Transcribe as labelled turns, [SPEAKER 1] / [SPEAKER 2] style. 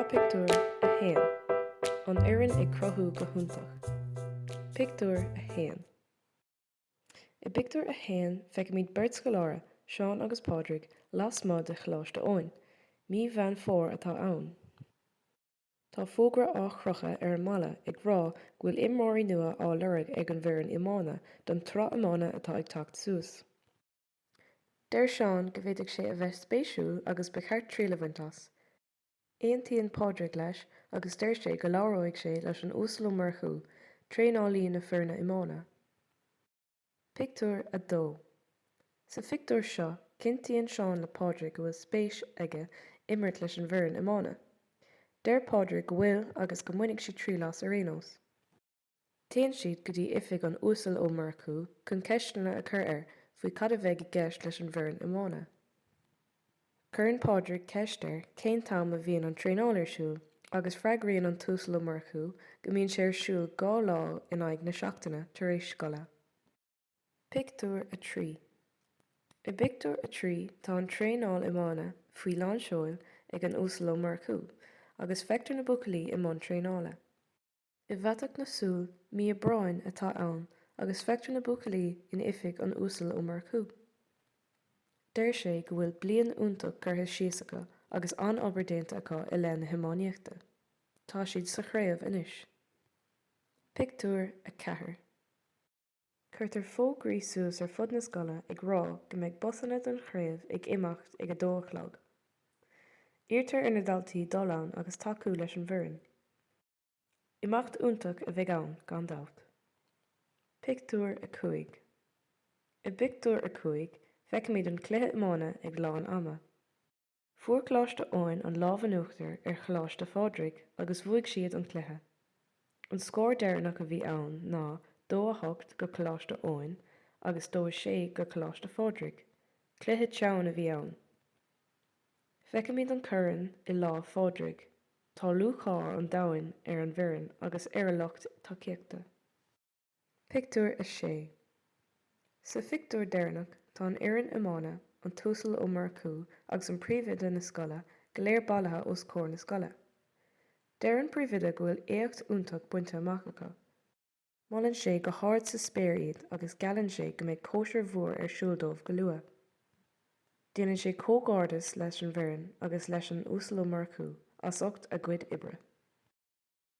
[SPEAKER 1] Sraith Pictiúr 1 An fhoireann ag cruthú go hiontach. Pictiúr 1 I bpictiúr a haon feicimid beirt scoláire, Seán agus Pádraig, lasmuigh de Choláiste Eoin. Mí Mheán Fómhair atá ann. Tá fógra á chrochadh ar an mballa ag rá go bhfuil imreoirí nua á lorg ag an bhfoireann iomána don tsraith iomána atá ag teacht suas. Deir Seán go bhféadfadh sé a bheith spéisiúil agus ba cheart triail a bhaint as. Aontaíonn Pádraig leis agus deir sé go labhróidh sé leis an Uasal Ó Murchú, traenálaí na foirne iomána. Pictiúr 2 Sa phictiúr seo, cinntíonn Seán le Pádraig go bhfuil spéis aige imirt leis an bhfoireann iomána. Deir Pádraig go bhfuil agus go mbainfidh sé triail as ar aon nós. Téann siad go dtí oifig an Uasail Ó Murchú chun ceisteanna a chur air faoi cad a bheidh i gceist leis an bhfoireann iomána. Cuireann Pádraig ceist air cén t-am a bhíonn an traenáil ar siúl agus freagraíonn an tUasal Ó Murchú go mbíonn sé ar siúl dhá lá in aghaidh na seachtaine tar éis scoile. Pictiúr 3 I bpictiúr a trí tá an traenáil iomána faoi lán seoil ag an Uasal Ó Murchú agus feictear na buachaillí i mbun traenála. I bhfaiteadh na súl, mí Aibreáin atá ann agus feictear na buachaillí in oifig an Uasail Ó Murchú. Deir sé go bhfuil bliain fhiúntach curtha síos acu agus an-obair déanta acu i leith na hiománaíochta. Tá siad sa chraobh anois. Pictiúr 4. Cuirtear fógraí suas ar fud na scoile ag rá go mbeidh busanna don chraobh ag imeacht ag a dó a chlog. Iarrtar ar na daltaí dul ann agus tacú leis an bhfoireann. Imeacht iontach a bheidh ann, gan dabht. Pictiúr 5 I bpictiúr a cúig, feicimid an cluiche iomána ag lán ama. Fuair Coláiste Eoin an lámh in uachtar ar Choláiste Phádraig agus bhuaigh siad an cluiche. An scór deireanach a bhí ann ná dó a hocht go Coláiste Eoin agus dó a sé go Coláiste Phádraig. Cluiche teann a bhí ann. Feicimid an corn i lámh Phádraig. Tá lúcháir an domhain ar an bhfoireann agus ar a lucht tacaíochta. Pictiúr 6 Sa phictiúr deireanach tá an fhoireann iomána, an tUasal Ó Murchú agus an príomhoide na scoile go léir bailithe os comhair na scoile. Deir an príomhoide go bhfuil éacht iontach bainte amach acu. Molann sé go hard sa spéir iad agus geallann sé go mbeidh cóisir mhór ar siúl dóibh go luath. Déanann sé comhghairdeas leis an bhfoireann agus leis an Uasal Ó Murchú as ucht a gcuid oibre.